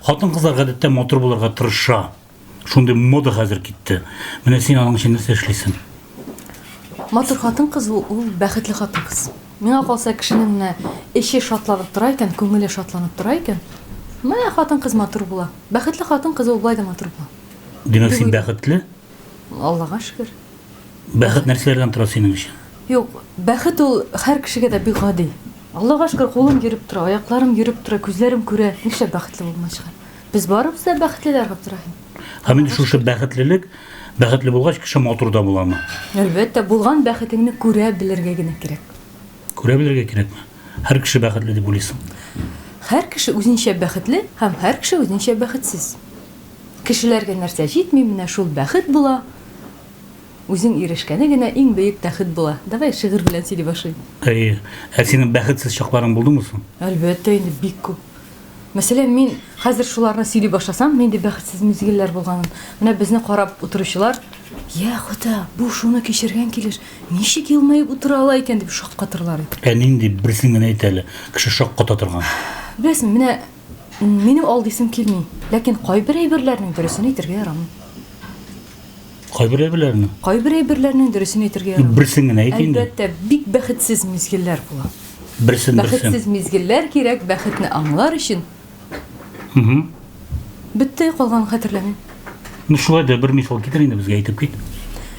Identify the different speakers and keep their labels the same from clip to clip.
Speaker 1: Хатын кызлар гадәттә матур булырга тырыша. Шундый мода хәзер китте. Менә син аның өчен нәрсә эшлисең? Матур хатын кыз ул, ул бәхетле хатын кыз. Миңа калса, кешенең менә эче шатланып тора икән, күңеле шатланып тора икән, менә хатын кыз матур була. Бәхетле хатын кыз ул болай да матур була. Димәк, син бәхетле? Аллага шөкер. Бәхет нәрсәләрдән тора синең өчен? Юк, бәхет ул һәр кешегә дә бик гади. Аллага шөкер, кулым йөреп тора, аякларым йөреп тора, күзләрем күрә. Нишләп бәхетле булмаска? Без барыбыз да бәхетлеләр, Габдерахим. Һәм инде шушы бәхетлелек, бәхетле булгач, кеше матур да буламы? Әлбәттә, булган бәхетеңне күрә белергә генә кирәк. Күрә белергә кирәкме? Һәр кеше бәхетле дип уйлыйсың? Һәр кеше үзенчә бәхетле һәм һәр кеше үзенчә бәхетсез. Кешеләргә нәрсә җитми, менә шул бәхет була, үзең ирешкәне генә иң бөек бәхет була. Давай шигырь белән сөйли башлыйм. Әйе. Ә синең бәхетсез чакларың булдымы соң? Әлбәттә инде, бик күп. Мәсәлән, мин хәзер шуларны сөйли башласам, нинди бәхетсез мизгелләр булганын, менә безне карап утыручылар, Йә, Хода, бу шуны кичергән килеш, ничек елмаеп утыра ала икән, дип шаккатырлар иде. Ә нинди, берсен генә әйт әле, кеше шакката торган. Беләсеңме, менә. Минем ал дисем килми, ләкин кайбер әйберләрнең дөресен әйтергә ярамый. Кайбер әйберләрне? Кайбер әйберләрнең дөресен әйтергә ярамый. Берсен генә әйт инде. Әлбәттә, бик бәхетсез мизгелләр була. Берсен, берсен. Бәхетсез мизгелләр кирәк, бәхетне аңлар өчен. Угу. Бетте, калган хәтерләмим. Ну шулай да бер мисал китер инде безгә әйтеп кит.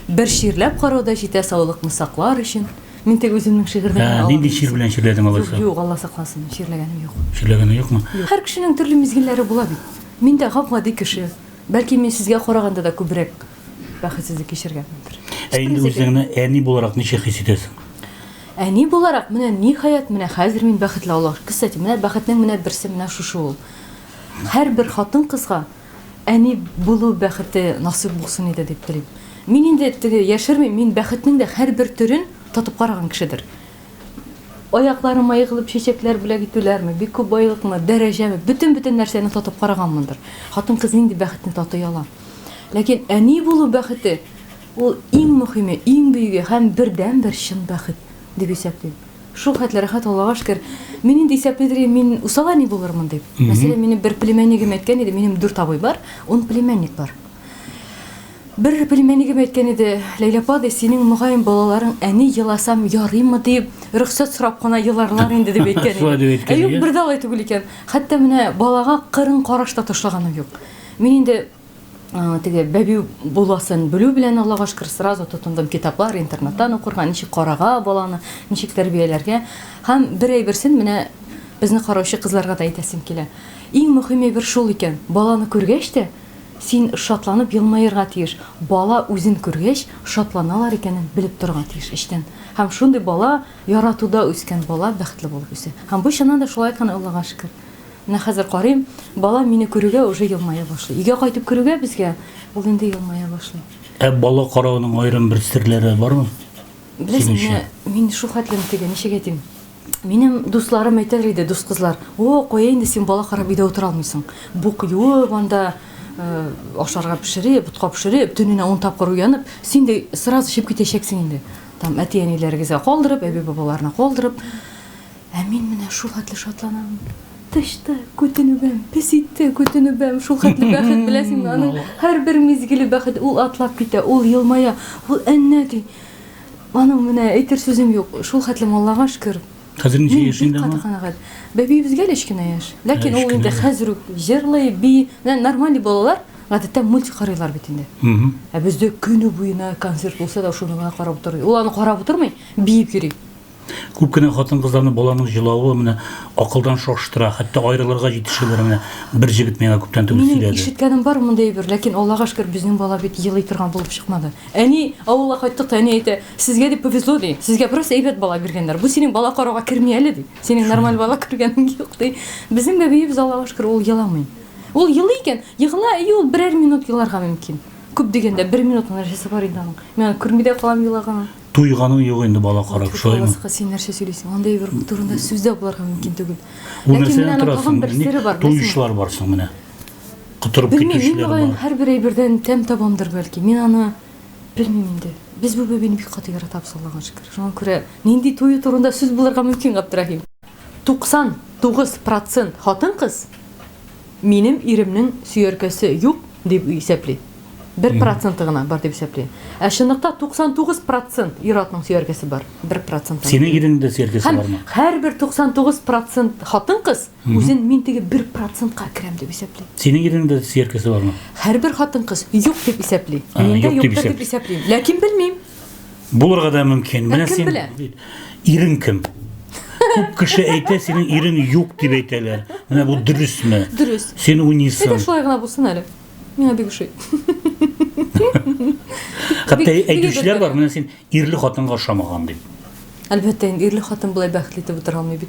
Speaker 1: Бер чирләп карау да җитә саулыкны саклар өчен. Мин теге үземнең шигырьдә генә алам. Нинди чир белән чирләдең алайса? Юк, Алла сакласын, чирләгәнем юк. Чирләгәнең юкмы? Һәр кешенең төрле мизгелләре була бит. Мин дә гап-гади кеше. Бәлки мин сезгә караганда да күбрәк бәхетсезлек кичергәнмендер. Ә инде үзеңне әни буларак ничек хис итәсең? Әни буларак, менә ниһаять, менә хәзер мин бәхетле, Аллага шөкер. Кстати, менә бәхетнең менә берсе менә шушы ул. Һәрбер хатын-кызга Әни булу бәхете насыйп булсын иде дип телим. Мин инде теге яшермим, мин бәхетнең дә һәрбер төрен татып караган кешедер. Аякларыма егылып чәчәкләр бүләк итүләрме, бик күп байлыкмы, дәрәҗәме, бөтен-бөтен нәрсәне татып караганмындыр. Хатын-кыз нинди бәхетне татый ала? Ләкин әни булу бәхете ул иң мөһиме, иң бөеге һәм бердәнбер чын бәхет дип исәплим. Шул хәтле рәхәт Аллага шкер. Мин инде исәплидер идем, мин усал әни булырмын дип. Мәсәлән, минем бер племяннигем әйткән иде, минем дүрт абый бар, ун племянник бар. Бер племяннигем әйткән иде, Ләйлә апа, ди, синең, мөгаен, балаларың әни еласам ярыймы дип, рөхсәт сорап кына еларлар инде, дип әйткән иде. Ә юк, бер дә алай түгел икән. Хәтта менә балага кырын караш та ташлаганым юк. Мин инде. теге бәбиу буласын белү белән аллага шөкер сразу тотындым китаплар интернеттан укырга ничек карага баланы ничек тәрбияләргә һәм бер әйберсен менә безне караучы кызларга да әйтәсем килә иң мөһим әйбер шул икән баланы күргәч тә син шатланып елмаерга тиеш бала үзен күргәч шатланалар икәнен белеп торырга тиеш эчтән һәм шундый бала яратуда үскән бала бәхетле булып үсә һәм бу чыннан да шулай икән аллага шөкер Менә хәзер карыйм, балам мине күрүгә уже елмая башлый. Өйгә кайтып керүгә безгә, ул инде елмая башлый. Ә бала карауның аерым бер серләре бармы? Беләсең, менә мин шул хәтлем теге, ничек әйтим, минем дусларым әйтәр иде, дус кызлар, о, кая инде син бала карап өйдә утыра алмыйсың. Бук юып анда, ашарга пешереп, ботка пешереп, төненә ун тапкыр уянып, син дә сразу эчеп китәчәксең инде. Там әти-әниләрегезгә калдырып, әби-бабаларына калдырып. Ә мин менә шул хәтле шатланам. Тышта күтенүбәм, песиттә күтенүбәм, шул хәтле бәхет беләсеңме, аның һәрбер мизгеле бәхет, ул атлап китә, ул елмая, ул әннә ди. Аның менә әйтер сүзем юк, шул хәтле Аллага шөкер. Хәзер ничә яшендә ул? Бик каты канәгать. Бәбиебезгә әле кечкенә яшь, ләкин ул инде хәзер үк җырлый, би, менә нормаль балалар гадәттә мультик карыйлар бит инде. Ә бездә көне буена концерт булса да шуны гына карап утырый. Ул аны карап утырмый, биеп йөри. Күп кенә хатын-кызларны баланың җылавы менә акылдан шаштыра, хәтта аерылырга җитешәләр, менә бер җегет миңа күптән түгел Минем сөйләде. ишеткәнем бар мондый әйбер, ләкин Аллага шөкер, безнең бала бит елый торган булып чыкмады. Әни, авылга кайттык та, әни әйтә, Сезгә дип повезло, ди, сезгә бераз әйбәт бала биргәннәр, бу синең бала карауга керми әле, ди, синең нормаль бала күргәнең юк, ди. Безнең бәбиебез, Аллага шөкер, ул еламый. Ул елый икән, егыла, әйе, ул берәр минут еларга мөмкин. Күп дигәндә бер минут гына нәрсәсе бар инде аның. Мин аны күрми дә калам елаганын. Туйганың юк инде бала карап, шулаймы? Алласка син нәрсә сөйлисең? Андый бер турында сүз дә буларга мөмкин түгел. Ул нәрсәдән торасың? Бер сире бар. Туйышлар барсың менә. Котырып китүчеләр бар. Мин һәр бер әйбердән тәм табамдыр бәлки. Мин аны белмим инде. Без бу бәбине бик каты яратабыз, Аллага шөкер. Шуңа күрә нинди туе турында сүз буларга мөмкин, Габдрахим? 99% хатын-кыз минем иремнең сөяркәсе юк, Дип исәпли. Бер проценты гына бар дип исәпли. Ә чынлыкта 99 процент ир-атның сөяркәсе бар. Бер процент. Синең иреңнең дә сөяркәсе бармы? Һәрбер 99 процент хатын-кыз үзен мин теге бер процентка керәм дип исәпли. Синең иреңнең дә сөяркәсе бармы? Һәрбер хатын-кыз юк дип исәпли. Миндә юк дип исәпли. Ләкин белмим. Булырга да мөмкин. Менә кем син белә? ирең кем? Күп кеше әйтә, синең ирең юк дип әйтәләр. Менә бу дөресме? Дөрес. Син Әйдә уйныйсың. шулай гына булсын әле. Миңа бик ошый. Хәтта бик- бик әйтүчеләр бар, әйбәт. менә син ирле хатынга ошамаган дип. Әлбәттә, инде ирле хатын болай бәхетле итеп утыра алмый бит.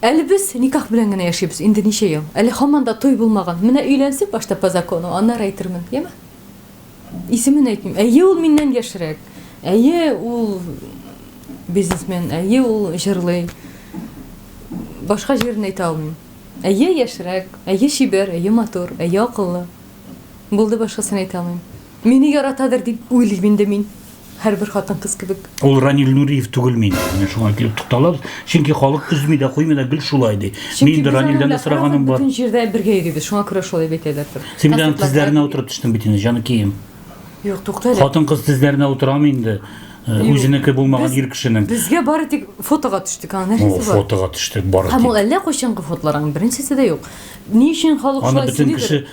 Speaker 1: Әле без никах белән генә яшибез, инде ничә ел. Әле һаман да туй булмаган. Менә өйләнсен башта по закону, аннары әйтермен, яме? Исемен әйтмим. Әйе, ул миннән яшьрәк. Әйе, ул бизнесмен, әйе, ул җырлый. Башка җирен әйтә алмыйм. Әйе, яшьрәк, әйе, чибәр, әйе, матур, әйе, акыллы. Булды, башкасын әйтә алмыйм. Мине яратадыр дип уйлыйм инде мин. Һәрбер хатын-кыз кебек. Ул Ранил Нуриев түгелме инде? Менә шуңа килеп тукталабыз. Чөнки халык өзми дә, куймый да гел шулай ди. Мин инде Ранилдән дә сораганым бар. Бөтен җирдә бергә йөрибез. Шуңа күрә шулай дип әйтәләрдер. Син бит аның тезләренә утырып төштең бит инде, җаныкием. Юк, тукта әле. Хатын-кыз тезләренә утырамы инде? Э, үзенеке булмаган ир кешенең. Безгә бары тик фотога төштек, аңа нәрсәсе бар? Фотога төштек бары тик. Һәм ул әллә кайчангы фотолар, аның беренчесе дә юк. Ни өчен халык шулай сөйли?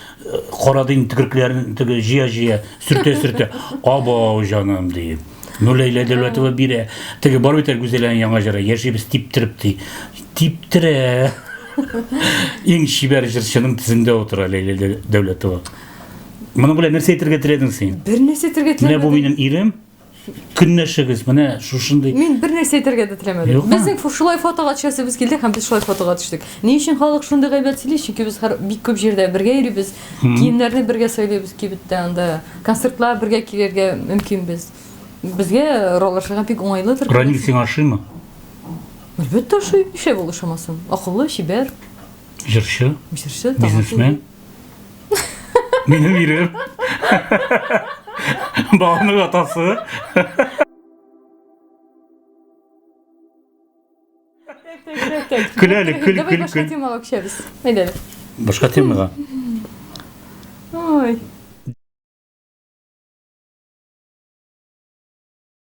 Speaker 1: Карады инде төкеркләрен теге җыя-җыя, сөртә-сөртә. Абау җаным ди. Ну Ләйлә Дәүләтова бирә. Теге бар бит әле Гүзәләнең яңа җыры Яшибез типтереп ди. Типтерә. Иң чибәр җырчының тезендә утыра Ләйлә Дәү- Дәүләтова. Моның белән нәрсә әйтергә теләдең син? Бер нәрсә әйтергә Менә бу теләмәдем. минем ирем. көнләшегез менә шушындый мин бер нәрсә әйтергә дә теләмәдем Юкмы? безнең фо- шулай фотога төшәсебез килде һәм без шулай фотога төштек ни өчен халык шундый гайбәт сөйли чөнки без һәр- бик күп җирдә бергә йөрибез киемнәрне бергә сайлыйбыз кибеттә анда концертлар бергә килергә мөмкинбез безгә ролашырга бик уңайлыдыр ранил сиңа ошыймы әлбәттә ошый нишләп ул ошамасын акыллы чибәр җырчы җырчы талантлы. бизнесмен Минем ирем. Баланың атасы. Көләле, көл, Давай көл, башка көл. темага күчәбез. Әйдәле. Башка темага. Ой.